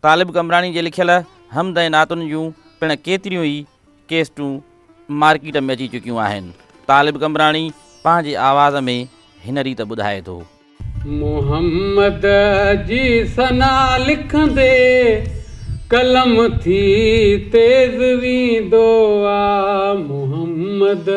طالب قمبراڻي جي لکيل حمد ۽ نعتن جون پڻ ڪيتريون ئي ڪيسٽون مارڪيٽ ۾ اچي چڪيون آهن. طالب قمبراڻي پنهنجي آواز ۾ هن ريت ٻڌائي ٿو. محمد جي ثنا لکندي قلم ٿي تيز ويندو آ محمد.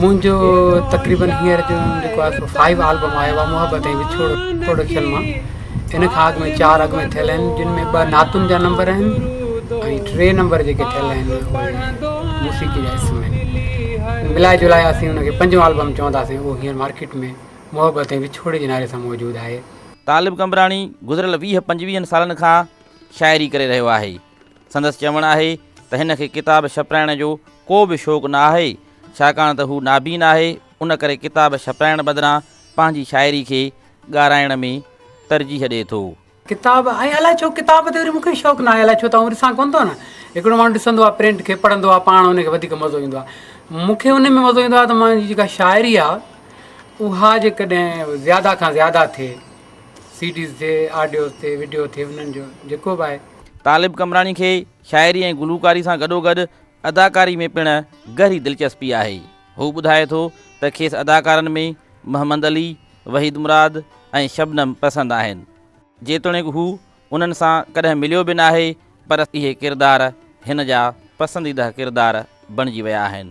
منهنجو تقريبن هينئر جو جيڪو آهي سو فائيو آلبم آيو آهي محبت ۽ وڇوڙو پروڊڪشن مان ان کان اڳ ۾ چار اڳ ۾ ٿيل آهن جن ۾ ٻه نعتن جا نمبر آهن ۽ ٽي نمبر جيڪي ٿيل آهن اهي موسيقي جا حصن ۾ آهن ملائي جلائي اسين ان کي پنجون آلبم چونداسين اهو هينئر مارڪيٽ ۾ محبت ۽ وڇوڙي جي نالي سان موجود آهي. طالب قمبراڻي گذريل ويهه پنجويهن سالن کان شاعري ڪري رهيو آهي. سندس چوڻ آهي ته هن کي ڪتاب ڇپرائڻ جو ڪو به شوق نه آهي، ڇاڪاڻ ته هو نابين آهي، ان ڪري ڪتاب ڇپرائڻ بدران پنهنجي شاعري کي ڳارائڻ ۾ ترجيح ڏئي ٿو. ڪتاب ۽ الائي ڇو ڪتاب تي وري مون کي شوق ناهي، الائي ڇو ته آئون ڏسان ڪونه ٿو نه، هڪڙو ماڻهو ڏسندو آهي پرنٽ کي پڙهندو آهي پاڻ ان کي وڌيڪ مزو ايندو آهي، مون کي ان ۾ مزو ايندو آهي ته منهنجي جيڪا شاعري آهي اها جيڪڏهن زياده کان زياده ٿئي سي ڊيز ٿئي آڊيوز ٿئي وڊيو ٿئي انهن جو جيڪو به آهي طالب قمبراڻي کي شاعري ۽ گلوڪاري سان گڏوگڏ اداڪاري ۾ پڻ گهري دلچسپي آهي. هو ٻڌائي ٿو ته کيس اداڪارن ۾ محمد علي، وحيد مراد ۽ شبنم پسند آهن. جيتوڻيڪ هو انهن سان ڪڏهن مليو به ناهي پر اهي ڪردار هن جا پسنديده ڪردار بڻجي ويا آهن.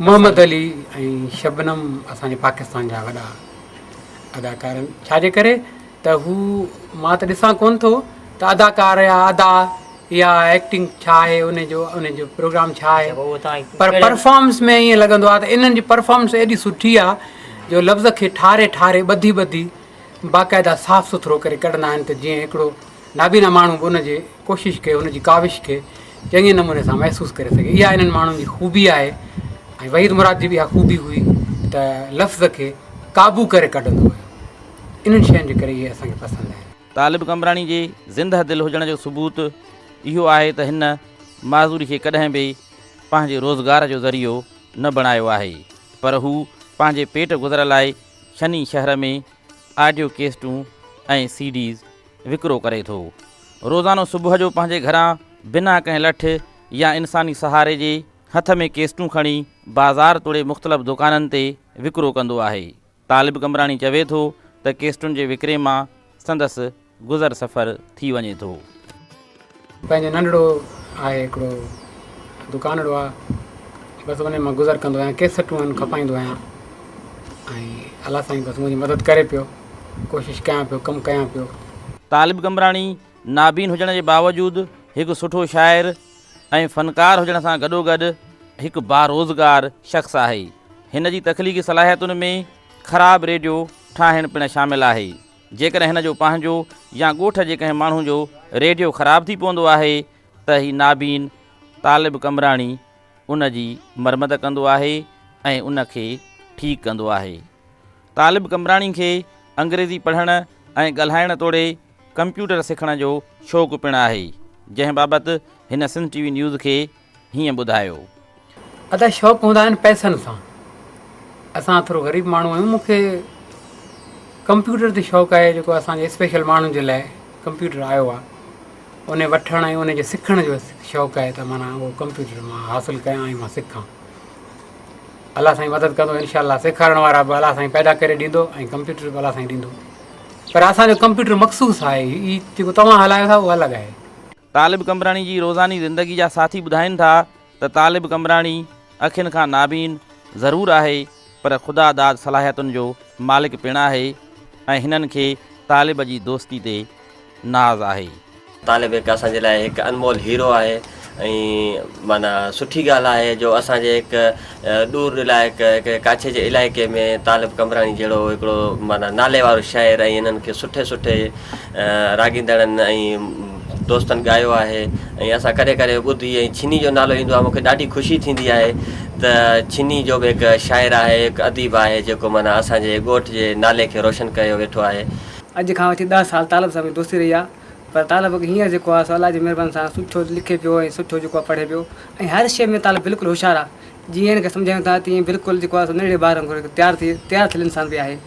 محمد علي ۽ شبنم اسان جي پاڪستان جا وڏا اداڪار آهن ڇا جي ڪري ته هو مان ته ڏسان ڪون ٿو ته اداڪار يا ادا يا ايڪٽنگ ڇا آهي ان جو ان جو پروگرام ڇا آهي پر پرفارمنس ۾ ائين لڳندو آهي ته انهن جي پرفارمنس ايڏي سٺي آهي جو لفظ کي ٺاري ٺاري ٻڌي ٻڌي باقاعده صاف سٿرو ڪري ڪڍندا آهن ته جيئن هڪڙو نابينا ماڻهو به ان جي ڪوشش کي، ان جي ڪاوش کي چڱي نموني سان محسوس ڪري سگهي. اها انهن ماڻهن جي خوبي آهي ۽ وحيد مراد جي به اها خوبي هئي ته لفظ کي قابو ڪري ڪڍندو هيو. انهن شين جي ڪري اهي اسان کي پسند آهن. طالب قمبراڻي جي زنده دل هجڻ جو ثبوت اهو آهي ته هن معذوري کي ڪڏهن به پنهنجي روزگار جو ذريعو نه بڻايو آهي پر هو پنهنجي پيٽ گذر لاء ڇني شهر ۾ آڊيو ڪيسٽون ۽ سي ڊيز وڪرو ڪري ٿو. روزانو صبح جو پنهنجي گهران بنا ڪنهن لٺ يا انساني سهاري جي هٿ ۾ ڪيسٽون کڻي بازار توڙي مختلف دوڪانن تي وڪرو ڪندو آهي. طالب قمبراڻي چوي ٿو ته ڪيسٽن جي وڪري مان سندس گذر سفر ٿي وڃي ٿو. پنهنجو ننڍڙو آهي هڪڙو دڪانڙو آ بس انهي مان گذر ڪندو آهيان ڪيسٽون ان کپائيندو آهيان ۽ الله سائين بس منهنجي مدد ڪري پيو ڪوشش ڪيان پيو ڪم ڪيان پيو. طالب قمبراڻي نابين هجڻ جي باوجود هڪ سٺو شاعر ۽ فنڪار هجڻ سان گڏوگڏ هڪ باروزگار شخص آهي. هن جي تخليقي صلاحيتن ۾ خراب ريڊيو ٺاهڻ پڻ شامل آهي. جيڪڏهن هن جو پنهنجو يا ڳوٺ جي ڪنهن ماڻهو جو ريڊيو خراب ٿي پوندو آهي ته هي نابين طالب قمبراڻي ان جي مرمت ڪندو آهي ۽ ان کي ٺيڪ ڪندو آهي. طالب قمبراڻي کي انگريزي پڙهڻ ۽ ڳالهائڻ توڙي ڪمپيوٽر سکڻ جو شوق پڻ آهي جنهن بابت هن سنڌ ٽي وي نيوز کي هيئن ٻڌايو. ادا شوق هوندا آهن پئسن سان اسان ٿورو غريب ماڻهو آهيون مون کي ڪمپيوٽر تي شوق آهي جيڪو اسان جي اسپيشل ماڻهن جي لاء ڪمپيوٽر آيو آهي ان وٺڻ ۽ ان جي سکڻ جو شوق آهي ته مانا اهو ڪمپيوٽر مان حاصل ڪيان ۽ مان سکان الله سائين مدد ڪندو انشاء الله سيکارڻ وارا به الله سائين پيدا ڪري ڏيندو ۽ ڪمپيوٽر به الله سائين ڏيندو پر اسانجو ڪمپيوٽر مخصوص آهي هي جيڪو توهان هلايو ٿا اهو الڳ آهي طالب قمبراڻي جي روزاني زندگي جا ساٿي ٻڌائين ٿا ته طالب قمبراڻي اکين کان نابين ضرور آهي پر خدا داد صلاحيتن جو مالڪ پڻ آهي ۽ هنن کي طالب جي دوستي تي ناز آهي. طالب هڪ اسان جي لاء هڪ انمول هيرو آهي ۽ معنيٰ سٺي ڳالهه آهي جو اسان جي هڪ ڏور علائقه ڪنهن ڪاڇي جي علائقي ۾ طالب قمبراڻي جهڙو هڪڙو معنيٰ نالي وارو شاعر ۽ انهن کي سٺي سٺي راڳيندڙن ۽ دوستن ڳايو آهي ۽ اسان ڪڏهن ڪڏهن ٻڌي ۽ ڇني جو نالو ايندو آهي مون کي ڏاڍي خوشي ٿيندي آهي ته ڇني جو به هڪ شاعر آهي هڪ اديب آهي جيڪو معنيٰ اسان جي ڳوٺ جي نالي کي روشن ڪيو ويٺو آهي. اڄ کان وٺي ڏهه سال طالب صاحب جي دوستي رهي آهي. پر طالب اڳ هينئر جيڪو آ سو الله جي مهرباني سان سٺو لکي پيو ۽ سٺو جيڪو آ پڙهي پيو ۽ هر شيء ۾ طالب بلڪل هوشيار آ جيئن هن کي سمجهايون ٿا تيئن بلڪل جيڪو آ سو ننڍڙي ٻار وانگر هڪ تيار ٿي تيار ٿيل انسان به آهي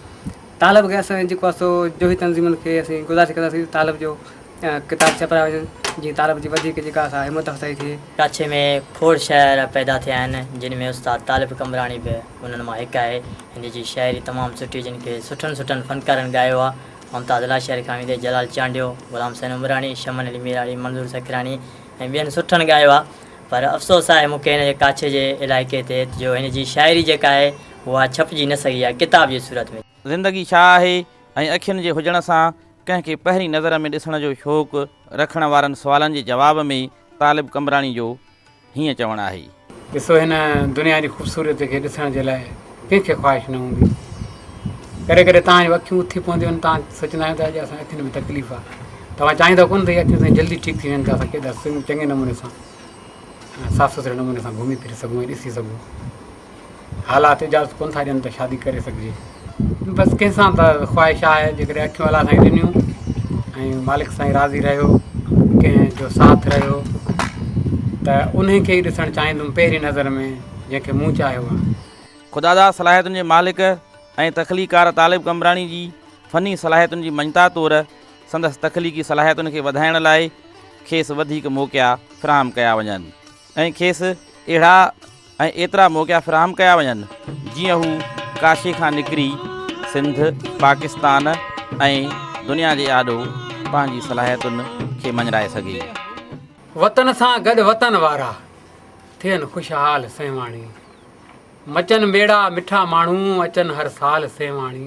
طالب کي اسان جيڪو آ سو جوهي تنظيمن کي اسين گذارش ڪنداسين ته طالب جو ڪتاب ڇپرايا وڃن جيئن طالب جي وڌيڪ جيڪا آ سا همت افزائي ٿئي. ڪراچي ۾ کوڙ شاعر پيدا ٿيا آهن جن ۾ استاد طالب قمبراڻي به انهن مان هڪ آهي هن جي شاعري تمام سٺي جن کي سٺن سٺن فنڪارن ڳايو آ ممتاز الله شير کان ويندي جلال چانڊيو، غلام حسين عمراڻي، شمن علي ميراڻي، منظور سکراڻي ۽ ٻين سٺن ڳايو آهي پر افسوس آهي مون کي هن جي ڪاڇي جي علائقي تي جو هن جي شاعري جيڪا آهي اها ڇپجي نه سگهي آهي ڪتاب جي صورت ۾. زندگي ڇا آهي ۽ اکين جي هجڻ سان ڪنهن کي پهرين نظر ۾ ڏسڻ جو شوق رکڻ وارن سوالن جي جواب ۾ طالب قمبراڻي جو. هيئن چوڻ آهي. ڏسو هن دنيا جي خوبصورت کي ڏسڻ جي لاء ڪنهن کي خواهش نه هوندي. ڪڏهن ڪڏهن توهان جون اکيون اٿي پونديون آهن توهان سوچيندا آهيو ته اڄ اسان اکين ۾ تڪليف آهي. توهان چاهيندا ڪونه ته هي اکيون سائين جلدي ٺيڪ ٿي وڃن ته اسان ڪيڏا چڱي نموني سان ۽ صاف سٿري نموني سان گهمي ڦري سگهون ۽ ڏسي سگهون. حالات اجازت ڪونه ٿا ڏين ته شادي ڪري سگهجي بس ڪنهن سان ته خواهش آهي جيڪڏهن اکيون الله سائين ڏنيون ۽ مالڪ سائين راضي رهيو ڪنهن جو ساٿ رهيو ته ان کي ئي ڏسڻ چاهيندم پهرين نظر ۾ جنهن کي مون چاهيو آهي خداداد صلاحيتن جي مالڪ ۽ تخليقار طالب قمبراڻي جي فني صلاحيتن جي مڃتا طور سندس تخليقي صلاحيتن کي وڌائڻ لاء کيس وڌيڪ موقعا فراهم ڪيا وڃن. ۽ کيس اهڙا ۽ ايترا موقعا فراهم ڪيا وڃن جيئن هو ڪاشي کان نڪري سنڌ، پاڪستان ۽ دنيا جي آڏو پنهنجي صلاحيتن کي مڃرائي سگهي. وطن سان گڏ وطن وارا، ٿين خوشحال سيوهاڻي. مچن ميڙا مٺا ماڻهو، اچن هر سال سيوهاڻي.